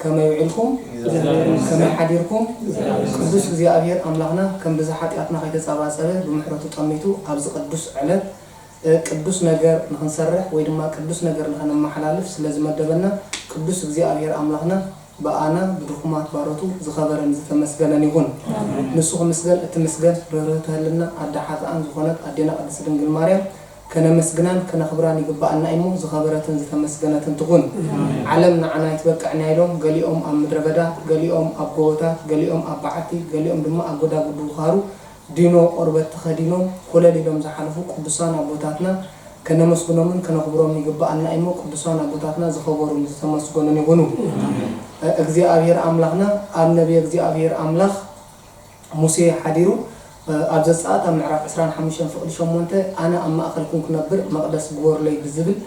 ከመይ ውዒልኩም ከመይ ሓዲርኩም ቅዱስ እግዚኣብሔር ኣምላክና ከም ብዝሕ ሓጥያትና ከይተጻባጸበ ብምሕረቱ ጠሚቱ ኣብዚ ቅዱስ ዕለት ቅዱስ ነገር ንክንሰርሕ ወይ ድማ ቅዱስ ነገር ንከነማሓላልፍ ስለ ዝመደበና ቅዱስ እግዚኣብሔር ኣምላክና ብኣና ብድኹማት ባሮቱ ዝከበረን ዝተመስገነን ይኩን ንሱ ክምስገን እትምስገን ርህርህቲ ህልና ኣደ ሓጥኣን ዝኮነት ኣዴና ቅድስት ድንግል ማርያም ከነመስግናን ከነኽብራን ይግብኣና እዩሞ ዝኸበረትን ዝተመስገነትን ትኹን። ዓለም ንዓና ኣይትበቅዕንያ ኢሎም ገሊኦም ኣብ ምድረ በዳ፣ ገሊኦም ኣብ ጎቦታት፣ ገሊኦም ኣብ በዓቲ፣ ገሊኦም ድማ ኣብ ጎዳጉዲ ውኻሩ ዲኖ ቆርበት ተኸዲኖም ኮለል ኢሎም ዝሓለፉ ቅዱሳን ኣቦታትና ከነመስግኖምን ከነኽብሮምን ይግብኣና እዩሞ ቅዱሳን ኣቦታትና ዝኸበሩን ዝተመስገኑን ይኹኑ። እግዚኣብሔር ኣምላኽና ኣብ ነብየ እግዚኣብሔር ኣምላኽ፣ ሙሴ ሓዲሩ ኣብ ዘጸኣት ኣብ ምዕራፍ ዕስራን ሓሙሽተን ፍቕዲ ሸሞንተ ኣነ ኣብ ማእከልኩም ክነብር መቕደስ ግበሩለይ ብዝብል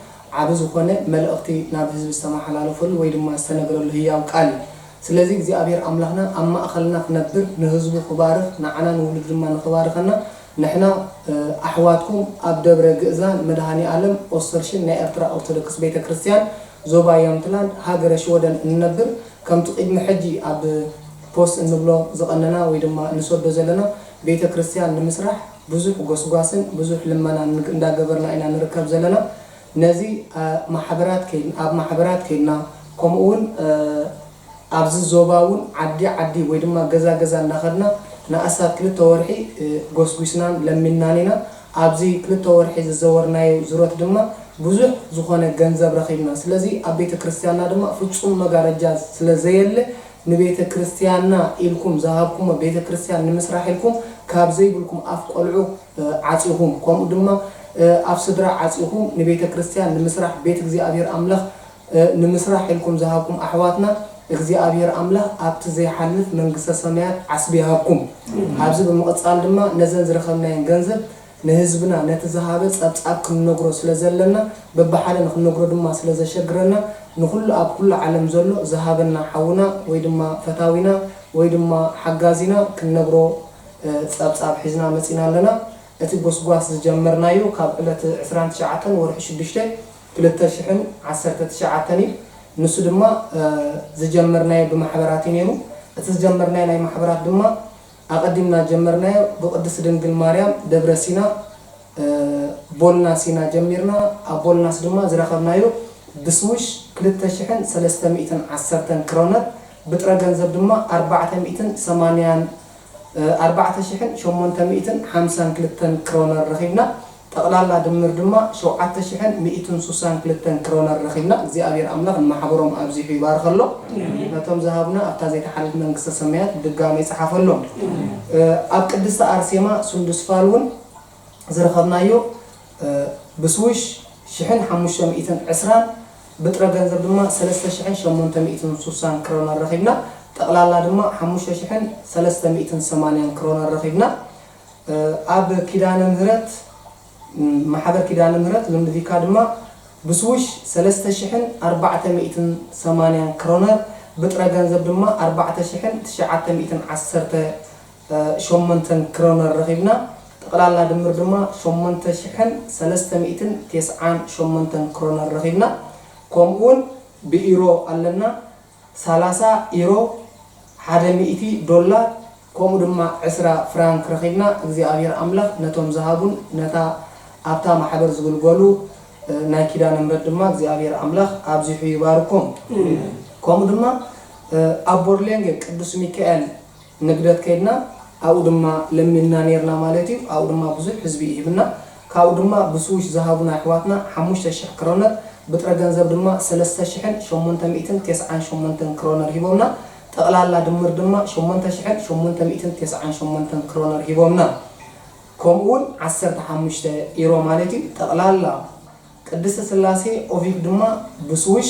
ዓቢ ዝኾነ መልእኽቲ ናብ ህዝቢ ዝተመሓላለፈሉ ወይ ድማ ዝተነግረሉ ህያው ቃል እዩ። ስለዚ እግዚኣብሔር ኣምላኽና ኣብ ማእኸልና ክነብር ንህዝቡ ክባርኽ ንዓና ንውሉዱ ድማ ንኽባርኸና ንሕና ኣሕዋትኩም ኣብ ደብረ ግእዛን መድኃኒኣለም ኦስተርሽን ናይ ኤርትራ ኦርቶዶክስ ቤተ ክርስቲያን ዞባ ያምትላንድ ሃገረ ሽወደን እንነብር ከምቲ ቅድሚ ሕጂ ኣብ ፖስት እንብሎ ዝቐነና ወይ ድማ ንሰዶ ዘለና ቤተ ክርስትያን ንምስራሕ ብዙሕ ጎስጓስን ብዙሕ ልመናን እንዳገበርና ኢና ንርከብ ዘለና ነዚ ማሕበራት ከይድና ኣብ ማሕበራት ከይድና ከምኡ ውን ኣብዚ ዞባ ውን ዓዲ ዓዲ ወይ ድማ ገዛ ገዛ እንዳኸድና ንኣስታት ክልተ ወርሒ ጎስጒስናን ለሚንናን ኢና ኣብዚ ክልተ ወርሒ ዝዘወርናዮ ዙረት ድማ ብዙሕ ዝኾነ ገንዘብ ረኺብና ስለዚ ኣብ ቤተ ክርስትያንና ድማ ፍጹም መጋረጃ ስለ ዘየለ ንቤተ ክርስትያንና ኢልኩም ዝሃብኩሞ ቤተ ክርስትያን ንምስራሕ ኢልኩም ካብ ዘይብልኩም ኣፍ ቆልዑ ዓጺኹም ከምኡ ድማ ኣፍ ስድራ ዓጺኹም ንቤተ ክርስትያን ንምስራሕ ቤት እግዚኣብሔር ኣምላኽ ንምስራሕ ኢልኩም ዝሃብኩም ኣሕዋትና እግዚኣብሔር ኣምላኽ ኣብቲ ዘይሓልፍ መንግስተ ሰማያት ዓስቢ ይሃብኩም ኣብዚ ብምቕጻል ድማ ነዘን ዝረኸብናየን ገንዘብ ንህዝብና ነቲ ዝሃበ ጸብጻብ ክንነግሮ ስለ ዘለና በብሓደ ንክንነግሮ ድማ ስለ ዘሸግረና ንኹሉ ኣብ ኩሉ ዓለም ዘሎ ዝሃበና ሓውና ወይ ድማ ፈታዊና ወይ ድማ ሓጋዚና ክንነግሮ ጸብጻብ ሒዝና መጺና ኣለና። እቲ ጎስጓስ ዝጀመርናዮ ካብ ዕለት ዕስራን ትሽዓተን ወርሒ ሽዱሽተ ክልተ ሽሕን ዓሰርተ ትሽዓተን እዩ። ንሱ ድማ ዝጀመርናዮ ብማሕበራት እዩ ነይሩ። እቲ ዝጀመርናዮ ናይ ማሕበራት ድማ። ኣቀዲምና ጀመርናዮ ብቅድስት ድንግል ማርያም ደብረ ሲና ቦልና ሲና ጀሚርና ኣብ ቦልናስ ድማ ዝረከብናዮ ብስዊሽ ክልተ ሽሕን ሰለስተ ሚእትን ዓሰርተን ክሮነር ብጥረ ገንዘብ ድማ ኣርባዕተ ሚእትን ሰማንያን ኣርባዕተ ሽሕን ሸሞንተ ሚእትን ሓምሳን ክልተን ክሮነር ረኪብና ጠቕላላ ድምር ድማ ሸውዓተ ሽሕን ሚእትን ሱሳን ክልተን ክሮነር ረኺብና እግዚኣብሔር ኣምላኽ ንማሕበሮም ኣብዚሑ ይባርኸሎ ነቶም ዝሃቡና ኣብታ ዘይትሓልፍ መንግስተ ሰማያት ብድጋሜ ይጽሓፈሎም ኣብ ቅድስቲ ኣርሴማ ሱንዱስፋል ውን ዝረኸብናዮ ብስዊሽ ሽሕን ሓሙሽተ ሚእትን ዕስራን ብጥረ ገንዘብ ድማ ሰለስተ ሽሕን ሸሞንተ ሚእትን ሱሳን ክሮነር ረኺብና ጠቕላላ ድማ ሓሙሽተ ሽሕን ሰለስተ ሚእትን ሰማንያን ክሮነር ረኺብና ኣብ ኪዳነ ምህረት ማሕበር ኪዳነ ምህረት ልምድቪካ ድማ ብስዊሽ ሰለስተ ሽሕን ኣርባዕተ ሚእትን ሰማንያን ክሮነር ብጥረ ገንዘብ ድማ ኣርባዕተ ሽሕን ትሽዓተ ሚእትን ዓሰርተ ሸሞንተን ክሮነር ረኺብና ጠቕላላ ድምር ድማ ሸሞንተ ሽሕን ሰለስተ ሚእትን ቴስዓን ሸሞንተን ክሮነር ረኺብና ከምኡውን ብኢሮ ኣለና ሰላሳ ኢሮ፣ ሓደ ሚእቲ ዶላር፣ ከምኡ ድማ ዕስራ ፍራንክ ረኺብና እግዚኣብሔር ኣምላኽ ነቶም ዝሃቡን ነታ ኣብታ ማሕበር ዝግልገሉ ናይ ኪዳነ ምህረት ድማ እግዚኣብሔር ኣምላኽ ኣብዚሑ ይባርኮም። ከምኡ ድማ ኣብ ቦርሌንገ ቅዱስ ሚካኤል፣ ንግደት ከይድና ኣብኡ ድማ ለሚንና ኔርና ማለት እዩ ኣብኡ ድማ ብዙሕ ህዝቢ እዩ ሂብና ካብኡ ድማ ብስዊሽ ዝሃቡና የሕዋትና ሓሙሽተ ሽሕ ክሮነር ብጥረ ገንዘብ ድማ ሰለስተ ሽሕን ሸሞንተ ሚእትን ቴስዓን ሸሞንተን ክሮነር ሂቦምና ጠቅላላ ድምር ድማ ሸሞንተ ሽሕን ሸሞንተ ሚእትን ቴስዓን ሸሞንተን ክሮነር ሂቦምና ከምኡ ውን ዓሰርተ ሓሙሽተ ኢሮ ማለት እዩ ጠቅላላ ቅድስት ስላሴ ኦቪክ ድማ ብስዊሽ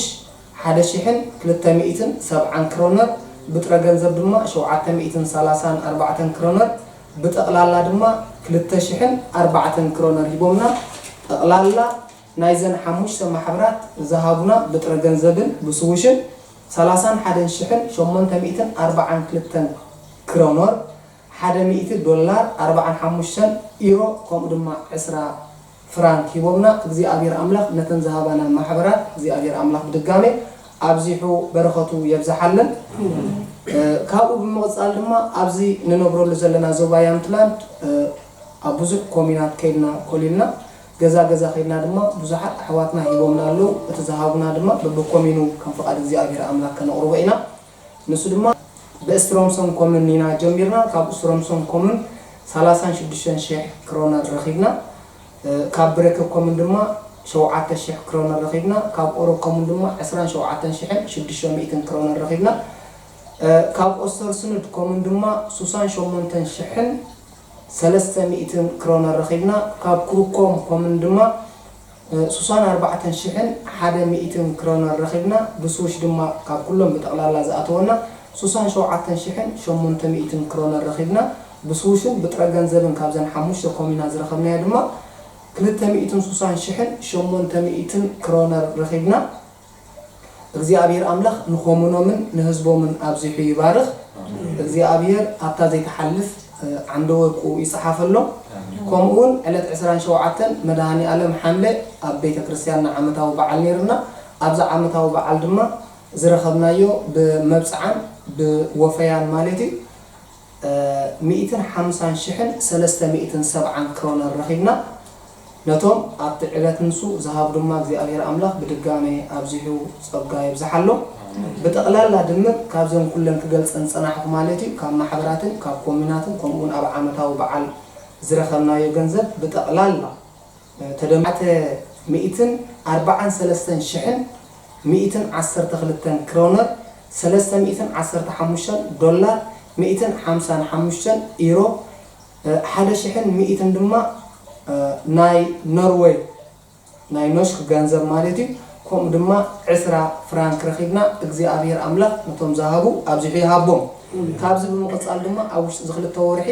ሓደ ሺሕን ክልተ ሚእትን ሰብዓን ክሮነር፣ ብጥረ ገንዘብ ድማ ሸውዓተ ሚእትን ሰላሳን ኣርባዕተን ክሮነር፣ ብጠቕላላ ድማ ክልተ ሺሕን ኣርባዕተን ክሮነር ሂቦምና። ጠቕላላ ናይዘን ሓሙሽተ ማሕበራት ዝሃቡና ብጥረ ገንዘብን ብስዊሽን ሰላሳን ሓደን ሺሕን ሸሞንተ ሚእትን ኣርባዓን ክልተን ክሮኖር፣ ሓደ ሚእቲ ዶላር፣ ኣርብዓን ሓሙሽተን ኢሮ ከምኡ ድማ ዕስራ ፍራንክ ሂቦምና። እግዚኣብሔር ኣምላኽ ነተን ዝሃባና ማሕበራት እግዚኣብሔር ኣምላኽ ብድጋሜ ኣብዚሑ በረኸቱ የብዝሓለን። ካብኡ ብምቕጻል ድማ ኣብዚ ንነብረሉ ዘለና ዞባ ያምትላንድ ኣብ ብዙሕ ኮምዩናት ከይድና ኮሊልና። ገዛ ገዛ ከይድና ድማ ብዙሓት ኣሕዋትና ሂቦምና ኣለዉ። እቲ ዝሃቡና ድማ በብኮምዩኑ ከም ፍቓድ እግዚኣብሔር ኣምላኽ ከነቕርቦ ኢና። ንሱ ድማ ብእስትሮምሶን ኮምን ኢና ጀሚርና ካብ እስትሮምሶን ኮምን ሰላሳን ሽዱሽተን ሽሕ ክሮነር ረኺብና ካብ ብረከ ኮምን ድማ ሸውዓተ ሽሕ ክሮነር ረኺብና ካብ ኦሮ ኮምን ድማ ዕስራን ሸውዓተን ሽሕን ሽዱሽተ ሚእትን ክሮነር ረኺብና ካብ ኦስተርስኑድ ኮምን ድማ ሱሳን ሸሞንተን ሽሕን ሰለስተ ሚእትን ክሮነር ረኺብና ካብ ክሩኮም ኮምን ድማ ሱሳን ኣርባዕተን ሽሕን ሓደ ሚእትን ክረውነር ረኺብና፣ ብስዊሽ ድማ ካብ ኩሎም ብጠቕላላ ዝኣተወና ሱሳን ሸውዓተን ሽሕን ሸሞንተ ሚእትን ክረውነር ረኺብና፣ ብስዊሽን ብጥረ ገንዘብን ካብዘን ሓሙሽተ ኮሚና ዝረኸብናዮ ድማ ክልተ ሚእትን ሱሳን ሽሕን ሸሞንተ ሚእትን ክረውነር ረኺብና። እግዚኣብሔር ኣምላኽ ንኮሙኖምን ንህዝቦምን ኣብዚሑ ይባርኽ እግዚኣብሔር ኣብታ ዘይትሓልፍ ዓንደ ወርቁ ይጽሓፈሎም ከምኡ ውን ዕለት ዕስራን ሸውዓተን መድሃኒኣለም ሓምለ ኣብ ቤተ ክርስትያንና ዓመታዊ በዓል ነይርና ኣብዛ ዓመታዊ በዓል ድማ ዝረኸብናዮ ብመብጽዓን ብወፈያን ማለት እዩ ሚእትን ሓምሳን ሽሕን ሰለስተ ሚእትን ሰብዓን ክሮነር ረኺብና ነቶም ኣብቲ ዕለት ንሱ ዝሃቡ ድማ እግዚኣብሔር ኣምላኽ ብድጋሜ ኣብዚሑ ጸጋ የብዝሓሎም ብጠቕላላ ድምር ካብዘን ኩለን ክገልጸን ዝጸናሕኩ ማለት እዩ ካብ ማሕበራትን ካብ ኮምዩናትን ከምኡውን ኣብ ዓመታዊ በዓል ዝረኸብናዮ ገንዘብ ብጠቕላላ ተደማዕተ ሚእትን ኣርባዓን ሰለስተን ሽሕን ሚእትን ዓሰርተ ክልተን ክሮነር፣ ሰለስተ ሚእትን ዓሰርተ ሓሙሽተን ዶላር፣ ሚእትን ሓምሳን ሓሙሽተን ኢሮ፣ ሓደ ሽሕን ሚእትን ድማ ናይ ኖርወይ ናይ ኖሽክ ገንዘብ ማለት እዩ፣ ከምኡ ድማ ዕስራ ፍራንክ ረኺብና፣ እግዚኣብሄር ኣምላኽ ነቶም ዝሃቡ ኣብዚሑ ይሃቦም። ካብዚ ብምቕጻል ድማ ኣብ ውሽጢ እዚ ክልተ ወርሒ፣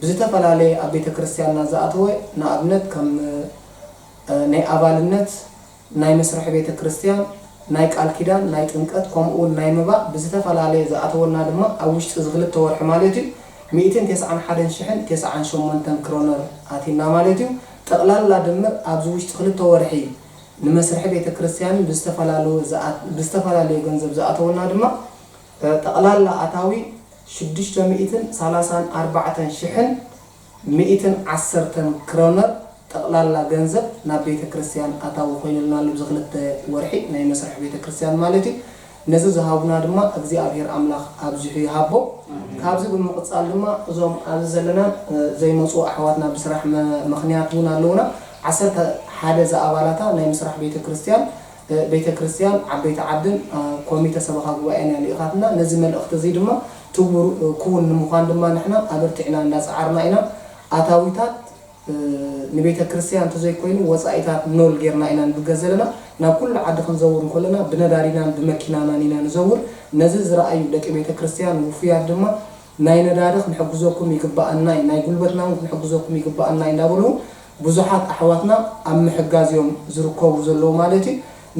ብዝተፈላለየ ኣብ ቤተ ክርስቲያንና ዝኣተወ ንኣብነት ከም ናይ ኣባልነት ናይ መስርሒ ቤተ ክርስቲያን ናይ ቃል ኪዳን ናይ ጥምቀት ከምኡ ውን ናይ መባእ ብዝተፈላለየ ዝኣተወልና ድማ ኣብ ውሽጢ እዚ ክልተ ወርሒ ማለት እዩ ሚእትን ተስዓን ሓደን ሽሕን ተስዓን ሸሞንተን ክሮነር ኣቲና ማለት እዩ ጠቅላላ ድምር ኣብዚ ውሽጢ ክልተ ወርሒ ንመስርሒ ቤተ ክርስቲያንን ብዝተፈላለዩ ብዝተፈላለየ ገንዘብ ዝኣተወልና ድማ ጠቅላላ ኣታዊ ሽዱሽተ ሚእትን ሰላሳን ኣርባዕተን ሽሕን ሚእትን ዓሰርተን ክረውነር ጠቕላላ ገንዘብ ናብ ቤተ ክርስቲያን ኣታዊ ኮይንልና ኣሎ፣ ኣብዚ ክልተ ወርሒ ናይ መስርሕ ቤተ ክርስቲያን ማለት እዩ። ነዚ ዝሃቡና ድማ እግዚኣብሔር ኣምላኽ ኣብዚሑ ይሃቦም። ካብዚ ብምቕጻል ድማ እዞም ኣብዚ ዘለናን ዘይመጹ ኣሕዋትና ብስራሕ ምኽንያት እውን ኣለዉና፣ ዓሰርተ ሓደ ዝኣባላታ ናይ ምስራሕ ቤተ ክርስቲያን ቤተ ክርስቲያን፣ ዓበይቲ ዓድን ኮሚተ ሰበኻ ጉባኤን እያ ልኢኻትና። ነዚ መልእኽቲ እዚ ድማ ትግቡር ክውን ንምዃን ድማ ንሕና ኣበርቲዕና እንዳጸዓርና ኢና። ኣታዊታት ንቤተ ክርስቲያን እንተዘይኮይኑ ወጻኢታት ኖል ጌርና ኢና ንብገዘለና። ናብ ኩሉ ዓዲ ክንዘውር እንከሎና ብነዳዲናን ብመኪናናን ኢና ንዘውር። ነዚ ዝረኣዩ ደቂ ቤተ ክርስቲያን ውፉያት ድማ ናይ ነዳዲ ክንሕግዘኩም ይግበኣና እዩ፣ ናይ ጉልበትና እውን ክንሕግዘኩም ይግበኣና እዩ እንዳበሉ እውን ብዙሓት ኣሕዋትና ኣብ ምሕጋዝ እዮም ዝርከቡ ዘለዉ ማለት እዩ።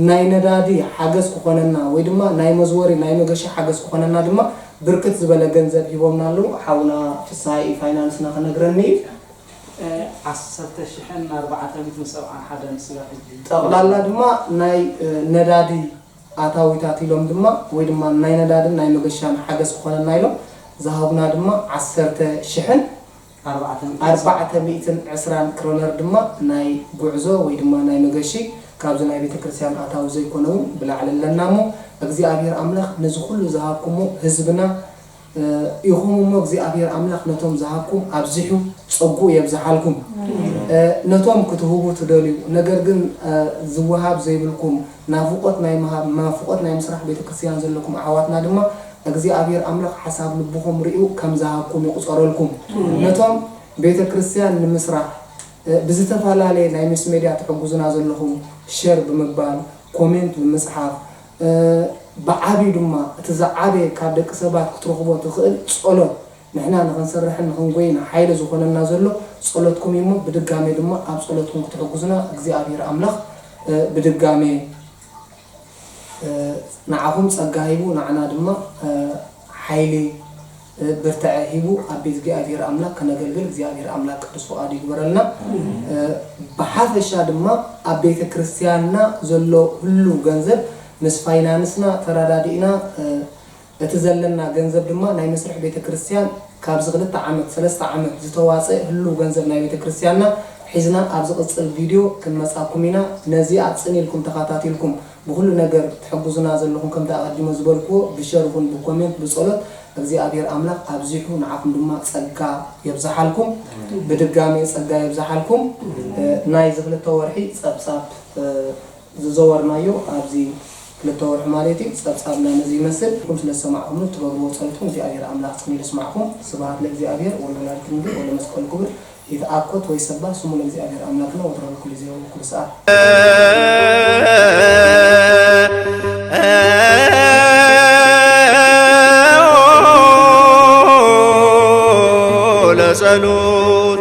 ናይ ነዳዲ ሓገዝ ክኾነና ወይ ድማ ናይ መዝወሪ ናይ መገሻ ሓገዝ ክኾነና ድማ ብርክት ዝበለ ገንዘብ ሂቦምና ኣለዉ። ሓውና ፍስሃይ ፋይናንስና ክነግረኒ እዩ። ዓሰርተ ሽሕን ኣርባዕተ ሚእትን ሰብዓን ሓደን ስጋብ ሕጂ። ጠቕላላ ድማ ናይ ነዳዲ ኣታዊታት ኢሎም ድማ ወይ ድማ ናይ ነዳድን ናይ መገሻን ሓገዝ ክኾነና ኢሎም ዝሃቡና ድማ ዓሰርተ ሽሕን ኣርባዕተ ሚእትን ዕስራን ክሮነር ድማ ናይ ጉዕዞ ወይ ድማ ናይ መገሺ ካብዚ ናይ ቤተ ክርስቲያን ኣታዊ ዘይኮነ እውን ብላዕሊ ኣለና እሞ እግዚኣብሔር ኣምላኽ ነዚ ኩሉ ዝሃብኩሞ ህዝብና ኢኹም እሞ እግዚኣብሔር ኣምላኽ ነቶም ዝሃብኩም ኣብዚሑ ጸጉኡ የብዝሓልኩም ነቶም ክትህቡ ትደልዩ ነገር ግን ዝወሃብ ዘይብልኩም ናፍቆት ናይ ምሃብ ናፍቆት ናይ ምስራሕ ቤተክርስትያን ዘለኩም ኣሕዋትና ድማ እግዚኣብሔር ኣምላክ ሓሳብ ልብኩም ሪኡ ከም ዝሃብኩም ይቁፀረልኩም ነቶም ቤተክርስትያን ንምስራሕ ብዝተፈላለየ ናይ ምስ ሜድያ ትሕግዙና ዘለኩም ሸር ብምባል ኮሜንት ብምፅሓፍ ብዓብዩ ድማ እቲ ዝዓበየ ካብ ደቂ ሰባት ክትረክቦ ትክእል ፀሎት ንሕና ንኽንሰርሕን ንኽንጎይን ሓይሊ ዝኾነና ዘሎ ጸሎትኩም እዩ እሞ ብድጋሜ ድማ ኣብ ጸሎትኩም ክትሕጉዙና እግዚኣብሔር ኣምላኽ ብድጋሜ ንዓኹም ጸጋ ሂቡ ንዓና ድማ ሓይሊ ብርተዐ ሂቡ ኣብ ቤት እግዚኣብሔር ኣምላክ ከነገልግል እግዚኣብሔር ኣምላክ ቅዱስ ፍቃዱ ይግበረልና ብሓፈሻ ድማ ኣብ ቤተ ክርስትያንና ዘሎ ህሉው ገንዘብ ምስ ፋይናንስና ተራዳዲእና እቲ ዘለና ገንዘብ ድማ ናይ መስርሒ ቤተ ክርስቲያን ካብዚ ክልተ ዓመት ሰለስተ ዓመት ዝተዋጸ ህሉው ገንዘብ ናይ ቤተ ክርስቲያንና ሒዝና ኣብ ዝቅጽል ቪድዮ ክንመጻኩም ኢና ነዚኣ ጽን ኢልኩም ተኻታቲልኩም ብኹሉ ነገር ትሕጉዙና ዘለኹም ከምቲ ኣቀዲመ ዝበልክዎ ብሸር ይኹን ብኮሜንት ብጸሎት እግዚኣብሔር ኣምላኽ ኣብዚሑ ንዓኹም ድማ ጸጋ የብዝሓልኩም ብድጋሜ ጸጋ የብዝሓልኩም ናይዚ ክልተ ወርሒ ጸብጻብ ዝዘወርናዮ ኣብዚ ክልተ ወርሒ ማለት እዩ ጸብጻብና ነዚ ይመስል ኩም ስለ ዝሰማዕኩምኒ እትገብርዎ ጸሎት ውን እግዚኣብሔር ኣምላክ ጽምኢሉ ይስማዕኩም ስብሃት ለእግዚኣብሔር ወለወላዲት ድንግል ወለመስቀሉ ክብር ይትኣኮት ወይሰባህ ስሙ ለእግዚኣብሔር ኣምላክና ወትረ በኩሉ ግዜ ወበኩሉ ሰዓት። ለጸሎት